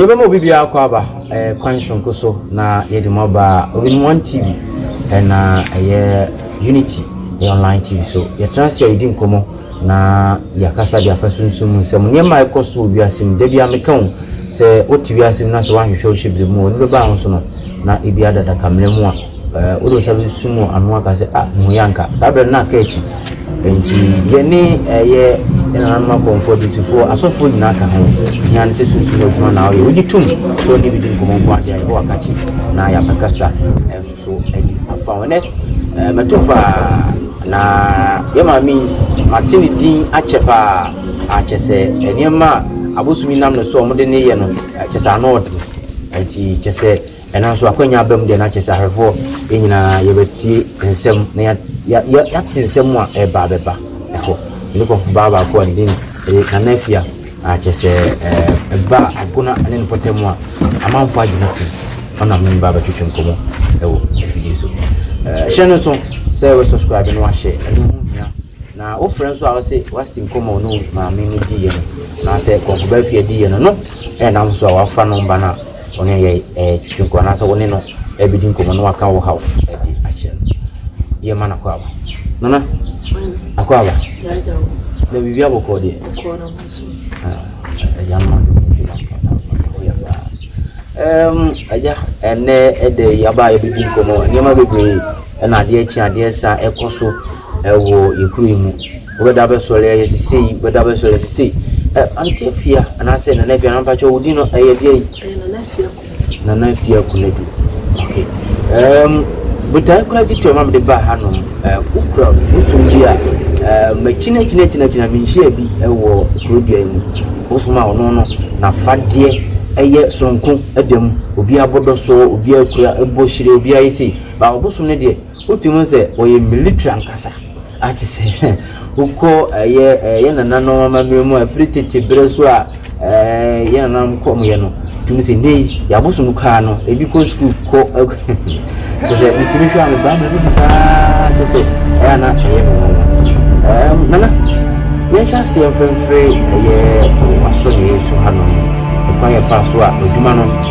yɛbɛma obi biara kɔ aba eh, kwan soronko so na yɛde mu aba obinom one tv ɛna eh, ɛyɛ unity ɛyɛ online tv so yɛtena ase a yɛdi nkɔmmɔ na yɛakasa de afa sunsum mu nsɛm nneɛma a ɛkɔ so wɔ wiase mu da bia meka wo sɛ wote wiase mu na sɛ woanhwehwɛ wo hyɛ bere mu ɔno bɛba ho so no na ebi adadaka mmerɛ mu a Ɛɛ wode wo nsa bɛsum wɔ ano aka sɛ, ah, hu yɛ anka. Saa berɛ no na aka akyi. Enti yɛne ɛyɛ nananom akɔmfoɔ adusifoɔ asɔfoɔ nyinaa ka ho. Hia no sɛ sunsum adwuma na woyɛ. Wogye tom sɛ wɔne bi di nkɔmmɔ nko adeɛ a Yehowa ka kyi na yɛabɛkasa nso adi afa ho. Ɛnɛ ɛɛ mɛto paa na yɛ maame yi mate ne din akyɛ paa akyɛ sɛ nneɛma a abosom yi nam ne so a wɔde ne yɛ no kyɛ sɛ ano ɔden. Enti kyɛ sɛ Nanso akwannya aba mu deɛ na kyerɛ sɛ ahwɛfoɔ yɛn nyinaa yɛbɛtie nsɛm na ya ya ya yɛate nsɛm a ɛreba abɛba ɛhɔ. Ɛne kɔfo baa baako a ne din de Nana Afia a kyerɛ sɛ ɛba a agona ne ne pɔtam a amanfoɔ agye no tom ɔnam ne mba bɛtwetwe nkɔmmɔ ɛwɔ afidie so. Hyɛ no nso sɛ wɔ subscribe no wahyɛ ɛno ho hia na wofrɛ nso a wɔsɛ wasi nkɔmmɔ no maame no diiɛ no anaasɛ kɔfo baa afia diiɛ no no ɛnam so a wafa no mba no a wo ne yɛ ɛɛtwi nkɔ anaasɛ wo ne no ɛɛbɛdi nkɔmmɔ na waka wo haw ɛde ahyɛ no yɛ ma no akɔ aba nana akɔ aba na biribi abɔ kɔɔ deɛ ɛgya no ɔde mu gyina ɔyɛ paa ɛɛm ɛgya ɛnɛ ɛdɛ yi aba a yɛbɛdi nkɔmmɔ nneɛma bebree ɛna adeɛ kye adeɛ sa ɛkɔ so ɛwɔ yɛkuro yi mu Wobɛda abɛsɔre ayɛ sisei, wobɛda abɛsɔre sisei. Ɛ, Aunty Afia anaasɛ Nana Afia, na mpakyɛ wo din no ɛyɛ deɛn? Ɛyɛ Nana Afia Kunadu. Nana Afia Kunadu, ok. Ɛɛm, botae koraa titire a ɛma mede baa ha nom, ɛ, wokura bosom bi a, ɛ, makyini akyini akyini akyini a menhyiaa bi wɔ kuro dua yi mu. Bosom a ɔno no n'afadeɛ ɛyɛ sononko da mu. Obiara bɔ dɔ soɔ, obiara kura, bɔ hyire, obiara yɛ sei. Baa ɔbosom no deɛ, Wotumi hu sɛ wɔyɛ military ankasa a te sɛ wokɔ ɛyɛ ɛyɛ nananom amammerɛ mu a ɛfiri tete berɛ so a ɛɛ yɛ nananom kɔ mu yɛ no tumi sɛ ne yi yabosom kaa no ebi kɔ sukuu kɔ ɛkɔ te sɛ wotumi hwɛ ano baa mu bi saa te sɛ ɛyɛ ana ɛyɛ no ɛɛm nana yɛn hyɛ aseɛ mfɛmfɛre ɛyɛ waso ne yɛ so ha no ɛkwan yɛ fa so a adwuma no.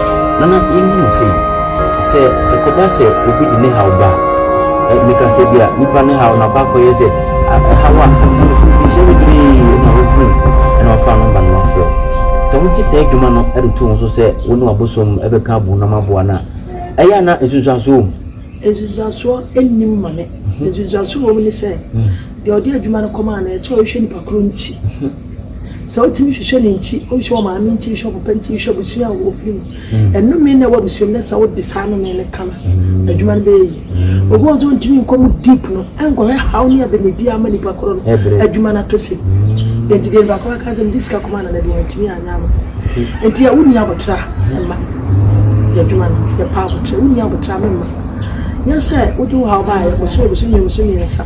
Na na yennim sei. Sɛ ɛkɔba sɛ obi de ne haw ba a, ɛ, meka sɛ ebia nnipa no haw no akɔ akɔyɛ sɛ a, ɛhaw a, ɛmfa no mfinhyia bebree na wohunu no na wɔafa no aba na wɔafrɛ wo. Sɛ wogye saa adwuma no de to wo so sɛ wo ne w'abosom bɛka abom na moaboa no a, ɛyɛ a na nsunsuansoɔ wom? Nsunsuansoɔ nnim, Maame. Nsunsuansoɔ a ɛwom ne sɛ, deɛ ɔde adwuma no kɔmaa no, ɛsɛ sɛ ɔhwehwɛ nipa korɔ nti. Sɛ wotumi hwehwɛ ne nkyi, wohwɛ wo maame nkyi, wohwɛ wo papa nkyi, wohwɛ abusua a wɔfiri mu. Ɛnome na ɛwɔ abusua mu na sɛ wode saa nome no ka no, adwuma no bɛyɛ yi. Obi wɔn nso ntumi nkɔ mu deep no, ɛnkɔhwɛ haw ne abɛmidi ama nipa korɔ no, adwuma no atɔ sin. Enti deɛ nipa korɔ aka sɛ mede sika kɔma nana bi wantumi anyɛ ama me. Enti a wonni aboterɛ a, mma. Yɛ adwuma no, yɛpɛ aboterɛ. Wonni aboterɛ a, memma. Nyɛ sɛ wode wo haw baeɛ, bosome bosome mmienu bosome mmiɛnsa.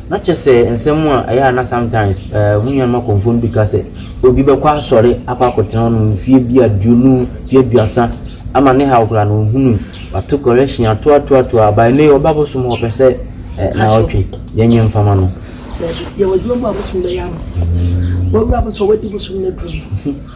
Na kyerɛ sɛ nsɛm a ɛyɛ a na sometimes eh, mo nuanom akɔmfoɔ no bi ka sɛ obi bɛkɔ asɔre akɔ akɔtena hɔ no mfeɛ bi aduonu, mfeɛ aduasa ama ne haw koraa na ɔhunu wato correction ato ato ato a by ne ɔba bosom hɔ pɛ sɛ eh, na ɔtwe yɛnyɛ mfama no. Dabi, yɛwɔ adwuma mu a bosom bɛyɛ ama. Wawura bosom, wadi bosom no aduru mu.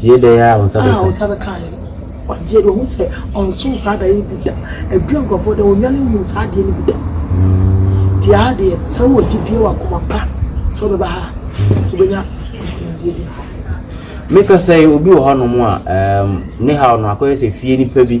Tie dɛn ara a wo nsa bɛka. A wo nsa bɛka yɛ. Ɔgye no, ɔhu sɛ ɔnso saa adeɛ no bi da. Ɛduru nkurɔfoɔ dɛ, wɔnnwane nhu saa adeɛ no bi da. Deɛ ara deɛ, sɛ wowɔ gyidie wɔ akoma pa sɛ wobɛba ha a, wobɛnya nkunimdie bi afa ho. Meka sɛ obi wɔ hɔnom a, ne haw no akɔyɛ sɛ fie nipa bi.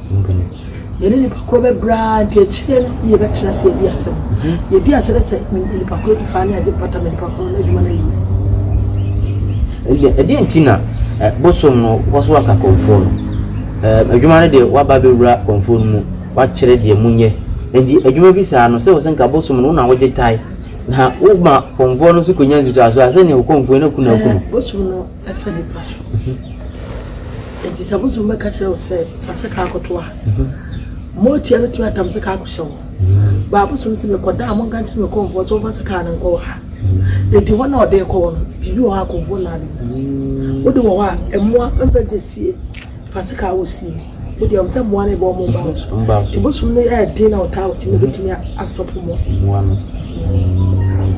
Mpo no, yɛne nnipa korɔ bɛbrɛ ara nti, akyire no ne yɛbɛtena ase adi asɛm. Yɛdi asɛ dɛ sɛ me ne nnipa korɔ di faa ne agye mpata ma nnipa korɔ no, adwuma no ayi. Ɛdeɛn nti na bosom no kɔ so aka kɔmfoɔ no? Adwuma no deɛ waba abɛwura kɔmfoɔ no mu, wakyerɛ deɛ monyɛ. Enti adwuma bi saa no, sɛ wo sɛ nka bosom no wo na wogye tae, na woma kɔmfoɔ no nso kɔnya nsusuasoɔ a, sɛdeɛ ɔkɔmfoɔ yi na ku no aku no. Bosom no fa nnipa so. Enti sɛ abosom bɛka kyerɛ wo sɛ, Fa sekaa kɔto a, mma ɔtua no tua tam sekaa kɔhyɛ wo. Ba abosom se, Mekɔ da a, monka nkyerɛ me kɔmfoɔ sɛ ɔmfa sekaa no nkɔwɔ ha. Enti hɔ no a ɔde rekɔwɔ no, biribi wɔ hɔ a kɔmfoɔ nnaa ne mu. Wode wɔ hɔ a, mmoa mfa gya sie. Fa sekaa wɔ sie mu. Wodeɛ ɔm sɛ mmoa no rebɔ ɔmo mba wo so. Nti bosom no yɛ den na ɔtaa wo nti na obetumi astɔpo mmoa no.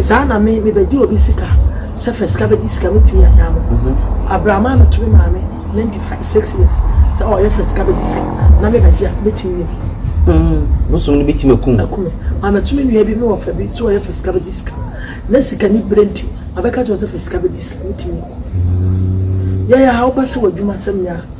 Saa na me me bɛgye obi sika sɛ fɛ sika bɛgye sika me tumi anyaa mo abrama me to me maame ninety five six years sɛ ɔyɛ fɛ sika bɛgye sika na me bɛgye a me tumi yɛ bi. Bosom no bɛtumi akum. Akum. Maame to me nua bi me wɔ fɛ bi sɛ ɔyɛ fɛ sika bɛgye sika na sika ni bere nti abɛka kyerɛ sɛ fɛ sika bɛgye sika me tumi akum. Yɛyɛ a wobɛ sɛ w'adwuma sɛm nyɛ a.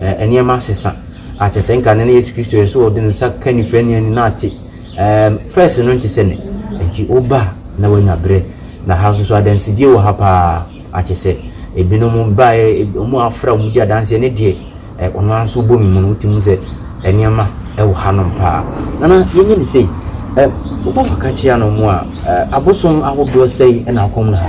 Ɛɛ, nneɛma asesa. Ah, kyerɛ sɛ nka nnɛ no Yesu Kristo yɛ sɛ ɔde ne nsa ka onifirani anim na ate. Ɛɛm, fɛs no nte sɛ nnɛ. Enti woba a, na woanya berɛ. Na ha nso so, adansedie wɔ ha pa ara. Ah, kyerɛ sɛ, ebinom baeɛ, eb, wɔafra a wɔdi adanseɛ. Ɛno deɛ, ɛ, ɔno ara nso wobɔ me mu no, wotumi hu sɛ nneɛma wɔ hanom pa ara. Nana, yɛnyɛ no sei. Ɛ, wobɔ fa ka kyea no mu a, ɛ, abosom ahodoɔ sɛn na akɔ mu ha?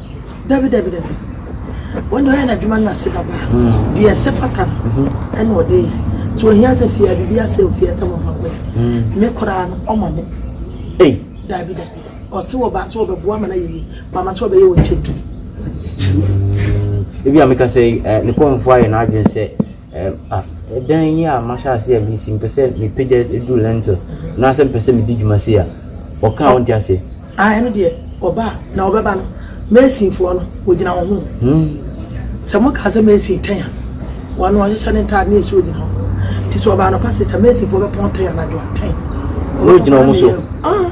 Dabi dabi dabi wɔn deɛ ɔyɛ n'adwuma no ase da baa deɛ ɛsɛ fata no ɛna ɔde yɛ so ohia sɛ fia biribi asɛ ofia sɛ mɔfa kɔ yɛ me koraa no ɔma me dabi dabi ɔse wɔ ba sɛ ɔbɛboa ma no ayɛ yi mama sɛ ɔbɛyɛ wɔ nkyɛn ebi a meka sɛ ne kɔnfoɔ ayɛ n'adwene sɛ Ɛɛ a, ɛdan yi a mahyɛ ase a mesi mepɛ sɛ mepagya duru lentil anaasɛ mepɛ sɛ medi dwuma sei a, wɔka a wonte aseɛ? Ah, ɛno deɛ ɔba a, na ɔbɛba no, masonfoɔ no, wɔgyina wo ho. Hmm. Sɛ mokaa sɛ mason tɛn a, wɔno ɔhyehyɛ ne ntaade ne ɛsuo gyina hɔ. Nti sɛ ɔba anɔpa sɛ sɛ masonfoɔ bɛpɔn tɛn anadwo a, tɛn. Wɔgyina wɔn so. Ah.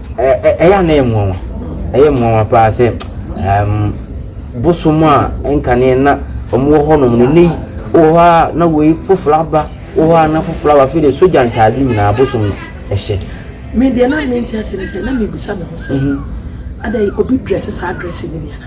Ɛyɛ a na ɛyɛ me nwanwa. Ɛyɛ me nwanwa paa sɛ bosom a nkane na wɔwɔ hɔnom no, nnɛ yi wɔ hɔ a na wei foforɔ aba, wɔ hɔ a na foforɔ aba. Afei deɛ sogya ntaade nyinaa bosom no hyɛ. Me deɛ na mente aseɛ ne sɛ na mebisa me ho sɛ, mhm. adɛn obi drɛse saa drɛse no bi ana?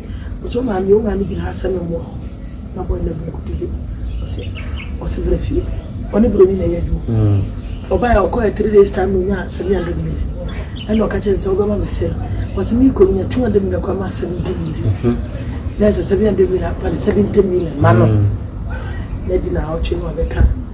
Ɔse wo maame wo maame gyina ha sɛ me mmoa wo na boy no abu nkotodwe ɔse ɔse bra fie ɔne broni na ɛyɛ adwuma ɔbae a ɔkɔɛ three days time na ɔnya seven hundred million ɛna ɔka kyɛ ne sɛ wobɛma me sɛ ɔse me kɔ nya two hundred million kɔ ama seventy million na ɛsɛ seven hundred million apane seventy million ma no na di na ɔtwe no ɔbɛka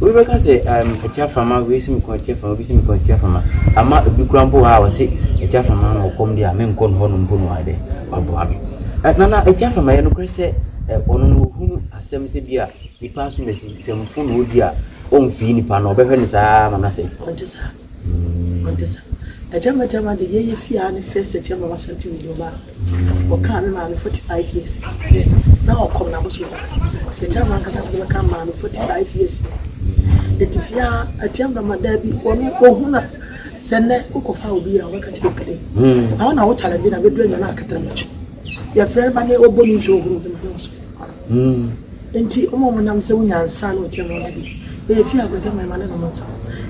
Obi bɛka sɛ ɛɛm atiaframa wei si me kɔn atiaframa obi si me kɔn atiaframa ama ebi kura mpo wɔ ha a wɔsi atiaframa ama ɔkɔm deɛ a menkɔ no hɔnom mpo no ayɛ dɛ waboa me. Ɛ na na atiaframa yɛ nokorɛ sɛ ɛ ɔno no ohunu asɛm sɛ bi a nipa asomasi nsɛmfo na odi a ɔnfii nipa no ɔbɛhwɛ no saa ara ama no asɛe. Ɔnte saa. Ɔnte saa. Agya ma gya ma de yɛyɛ fie ha ne first agya ma wasante wɔ nneɛma a ɔkaa me maame forty five years na ɔkɔm na abosom da agya ma nkasa de bɛka maame forty five years ɛti fie ha agya ma ma daa bi ɔno ɔhu na sɛ nnɛ wokɔfa obi a wɔbɛka kyerɛ pɛdɛ na wo na wo challenge na bɛdura nyina akatara matwe yɛfrɛ no ba ne ɔbɔ ne nsuo horo de ma ne ɔsɔ Hmm. Enti wɔn a wɔnam sɛ wonya nsa na wɔte nneɛma bi, woyɛ fie akwagya ma ɛma no nom nsa.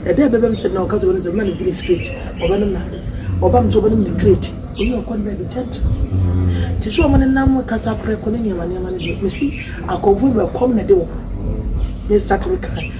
Ɛda a ɛbɛba mu sɛ na ɔka sɛ ɔbɛnom sɛ, mma no Guinness crate, ɔbɛnom n'ade. Ɔba mu sɛ ɔbɛnom ne crate, ɔne ɔkɔ no baabi gyɛnkyɛn. Te sɛ wɔn nenam kasa prɛko ne nneɛma nneɛma no deɛ, mese akɔmfoɔ bi a, ɛkɔm na ɛde wɔn. Mestarte me kan.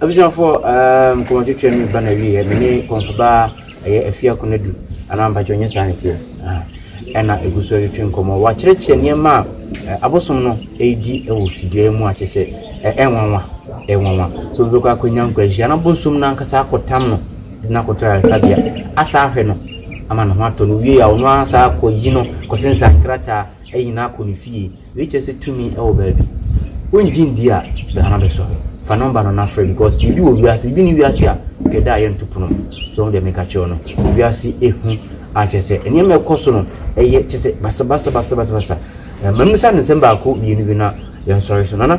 Abusuafoɔ aah nkɔmɔ twetwe me ba na wieɛ me ne kɔmfo ba ɛyɛ afia konadu anaa mpakyɛ ɔnyɛ saa ne teɛ ah, ɛna ɛgu so twetwe nkɔmɔ wakyerɛkyerɛ nneɛma a eh, abosom no ɛredi wɔ fidua mu a kyɛ sɛ ɛnwanwa eh, ɛnwanwa so wobɛkɔ akɔnya nkwanhyia na abosom no ankasa akɔtam no de no akɔtɔ ayaresabea asa ahwɛ no ama ne ho atɔ no wie a ɔno ara saa kɔyi no kɔsensa nkrataa ayi no akɔ ne fie Wei kyerɛ sɛ tumi wɔ baabi. Wongye ndi a, bra na bɛsɔ hwɛ. Fa nɔmba no na frɛ because biribi wɔ wiase, biribi nni wiase a nka ɛda a yɛnto pono mu. So wohu deɛ meka kyerɛ wo no? Wiase ehu a kyerɛ sɛ nneɛma a ɛkɔ so no ɛyɛ kyerɛ sɛ basabasa basabasa. Eh, ma mmisa no nsɛm baako mmienu bi na yɛnsɔre so. Nana,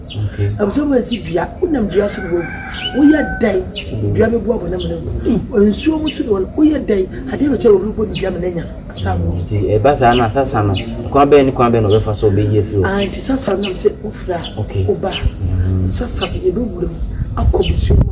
Abusua mu ɛsi dua wonam dua so na wawu woyɛ dɛn dua bɛ bu abɔnam na wu nsuo mu so na wɔn woyɛ dɛn adeɛ bɛ kyɛ wɔn bɔ ne dua mu na nya saa mu. nti ɛba saa na sasa no kwan bɛyɛ ne kwan bɛyɛ na ɔbɛfa so ɔbɛyi afiri hɔ. Ah nti sasa nam sɛ wofira ɔba sasa yɛbɛwura mu akɔ busua mu.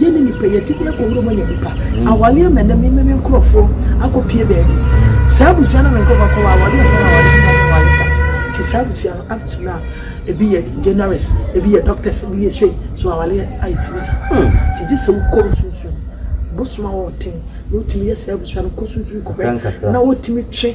Yɛ ne nipa yɛ ti bi ɛkɔ wura mu anya nipa awale ama ɛnɛ mi mi nkorɔfoɔ akɔ pie baabi saa abusua na mi nkorɔfoɔ akɔ wɔ awale ɛfɔ na awale ɛfɔ na awale ta ti saa abusua no up to now ebi yɛ journalist ebi yɛ doctors ebi yɛ sei so awale ayɛ sibi sa ti gye sɛ wokɔ nsunsun bosoma wɔ ɔten na wotumi yɛ saa abusua no kɔ sunsun kɔ bɛ na wotumi twe.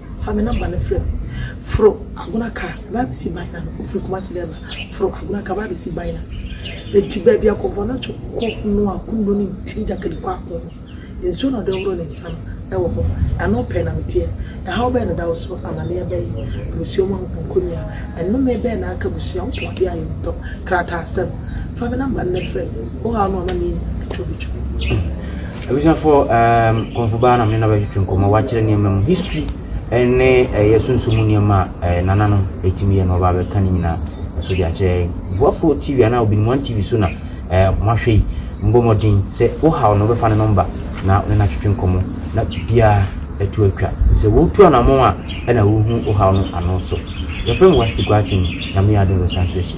Fa me number no frɛ me. Foro Agona car ba abɛsi Baina no ofiri Kumasi dɛ ba foro Agona car ba abɛsi Baina enti baabi a Kɔmfɔnakye kɔ noa konno ne ntini gyakali kɔ ako no nsuo na ɔde horo ne nsa no ɛwɔ hɔ ɛno pɛɛ na meteɛ ɛhaw bɛn na ɛda wo so amaneɛ bɛn abusua mu ahopɔnkɔ ni a ɛnome bɛn na aka abusua wo pɔn adeɛ ayɛ ntɔ krataasɛm fa me number no na frɛ me wo haw no amaneɛ ni atwa obɛtwa. Abusuafoɔ ehm Kɔmfo baa na me ne no abɛtwetwe nkɔmmɔ, wakyerɛ nneɛma mu history ne ɛyɛ sunsum mu nneɛma a eh, nananom ɛtumi yɛ na ɔba abɛka ne nyinaa ɛso de akyerɛ yɛn. Boafoɔ TV anaa Obinim One TV so na eh, moahwɛ yi. Mbɔ mmɔden sɛ wohaw no wobɛfa ne nɔmba na wo ne no atwetwe nkɔmmɔ na biribiara atu atwa. Ɛfiri sɛ wotu anammɔn a ɛna wohu wohaw no ano so. Yɛfrɛ me Wasti Guakyem, Nyame yɛ adom bɛsan so asi.